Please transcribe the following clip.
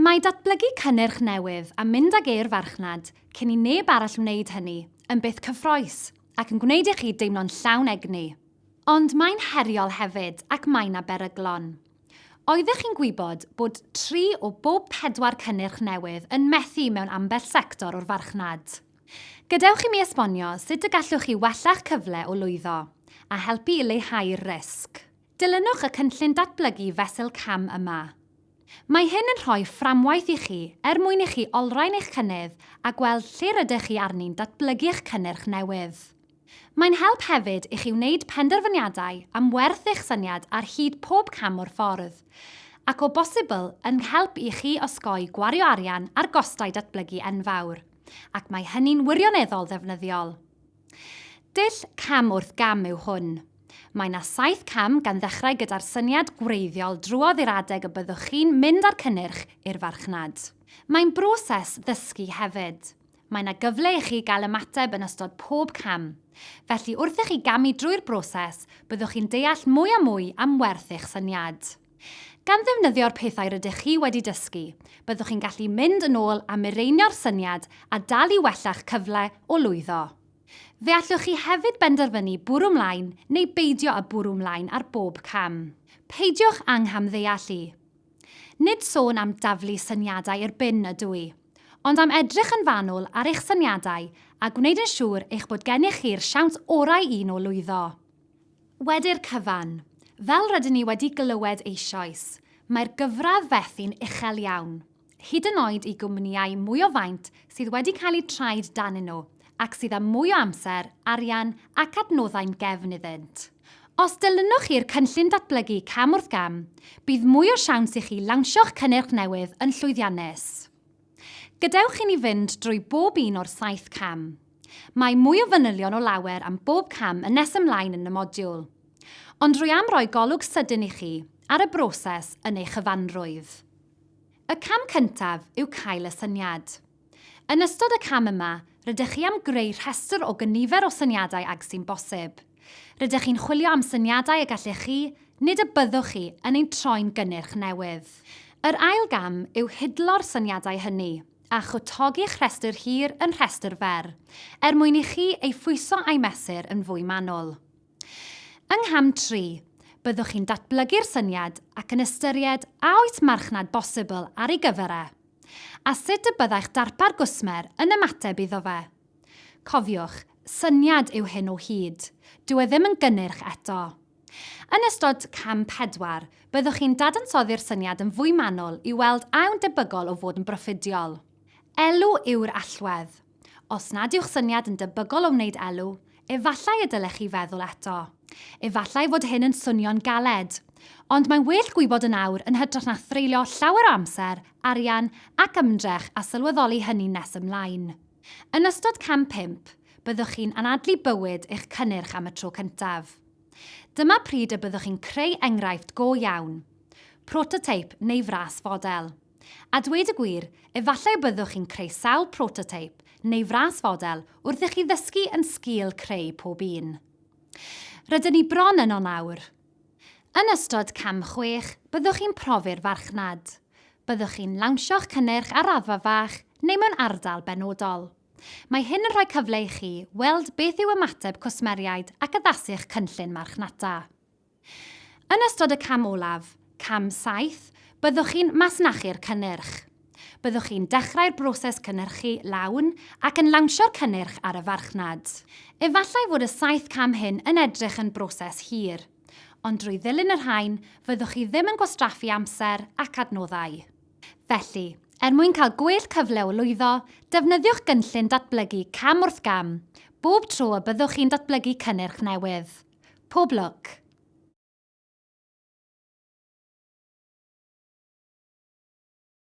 Mae datblygu cynnyrch newydd a mynd ag e i'r farchnad cyn i neb arall wneud hynny yn beth cyffrous ac yn gwneud i chi deimlo'n llawn egni. Ond mae'n heriol hefyd ac mae 'na beryglon. Oeddech chi'n gwybod bod tri o bob pedwar cynnyrch newydd yn methu mewn ambell sector o'r farchnad? Gadewch i mi esbonio sut y gallwch chi wella'ch cyfle o lwyddo, a helpu i leihau'r risg. Dilynwch y cynllun datblygu fesul cam yma. Mae hyn yn rhoi fframwaith i chi er mwyn i chi olrhain eich cynnydd a gweld lle rydych chi arni'n datblygu eich cynnyrch newydd. Mae'n help hefyd i chi wneud penderfyniadau am werth eich syniad ar hyd pob cam o'r ffordd, ac o bosibl yn help i chi osgoi gwario arian ar gostau datblygu enfawr, ac mae hynny'n wirioneddol ddefnyddiol. Dull cam wrth gam yw hwn. Mae 'na saith cam gan ddechrau gyda'r syniad gwreiddiol drwodd i'r adeg y byddwch chi'n mynd â'r cynnyrch i'r farchnad. Mae'n broses ddysgu hefyd. Mae 'na gyfle i chi gael ymateb yn ystod pob cam. Felly wrth i chi gamu drwy'r broses, byddwch chi'n deall mwy a mwy am werth eich syniad. Gan ddefnyddio'r pethau rydych chi wedi dysgu, byddwch chi'n gallu mynd yn ôl a mireinio'r syniad a dal i wella'ch cyfle o lwyddo. Fe allwch chi hefyd benderfynu bwrw 'mlaen neu beidio â bwrw 'mlaen ar bob cam. Peidiwch â nghamddeallu. Nid sôn am daflu syniadau i'r bin ydw i, ond am edrych yn fanwl ar eich syniadau a gwneud yn siŵr eich bod gennych chi'r siawns orau i nhw lwyddo. Wedi'r cyfan, fel rydyn ni wedi glywed eisoes, mae'r gyfradd fethi'n uchel iawn, hyd yn oed i gwmnïau mwy o faint sydd wedi cael eu traed danyn nhw ac sydd â mwy o amser, arian ac adnoddau'n gefn iddynt. Os dilynwch chi'r cynllun datblygu cam wrth gam, bydd mwy o siawns i chi lawnsio'ch cynnyrch newydd yn llwyddiannus. Gadewch i ni fynd drwy bob un o'r saith cam. Mae mwy o fanylion o lawer am bob cam yn nes ymlaen yn y modiwl. Ond rwy am roi golwg sydyn i chi ar y broses yn ei chyfanrwydd. Y cam cyntaf yw cael y syniad. Yn ystod y cam yma, rydych chi am greu rhestr o gynifer o syniadau ag sy'n bosib. Rydych chi'n chwilio am syniadau y gallech chi, nid y byddwch chi, yn ein troi'n gynnyrch newydd. Yr ail gam yw hidlo'r syniadau hynny, a chwtogi'ch rhestr hir yn rhestr fer, er mwyn i chi ei phwyso a'i mesur yn fwy manwl. Yng ngham tri, byddwch chi'n datblygu'r syniad ac yn ystyried a oes marchnad bosibl ar ei gyfer e, a sut y byddai'ch darpar gwsmer yn ymateb iddo fe. Cofiwch, syniad yw hyn o hyd. Dyw e ddim yn gynnyrch eto. Yn ystod cam pedwar, byddwch chi'n dadansoddi'r syniad yn fwy manwl i weld a yw'n debygol o fod yn broffidiol. Elw yw'r allwedd. Os nad yw'ch syniad yn debygol o wneud elw, efallai y dylech chi feddwl eto. Efallai fod hyn yn swnio'n galed. Ond mae'n well gwybod yn awr yn hytrach na threulio llawer o amser, arian ac ymdrech a sylweddoli hynny nes ymlaen. Yn ystod Cam Pump, byddwch chi'n anadlu bywyd eich cynnyrch am y tro cyntaf. Dyma pryd y byddwch chi'n creu enghraifft go iawn, prototeip neu fras fodel. A dweud y gwir, efallai y byddwch chi'n creu sawl prototeip neu fras fodel wrth i chi ddysgu yn sgil creu pob un. Rydyn ni bron yno nawr. Yn ystod Cam Chwech, byddwch chi'n profi'r farchnad. Byddwch chi'n lawnsio'ch cynnyrch ar raddfa fach neu mewn ardal benodol. Mae hyn yn rhoi cyfle i chi weld beth yw ymateb cwsmeriaid ac addasu'ch cynllun marchnata. Yn ystod y cam olaf, Cam Saith, byddwch chi'n masnachu'r cynnyrch. Byddwch chi'n dechrau'r broses cynhyrchu lawn ac yn lawnsio'r cynnyrch ar y farchnad. Efallai fod y saith cam hyn yn edrych yn broses hir, ond drwy ddilyn y rhain, fyddwch chi ddim yn gwastraffu amser ac adnoddau. Felly, er mwyn cael gwell cyfle o lwyddo, defnyddiwch gynllun datblygu cam wrth gam bob tro y byddwch chi'n datblygu cynnyrch newydd. Pob lwc!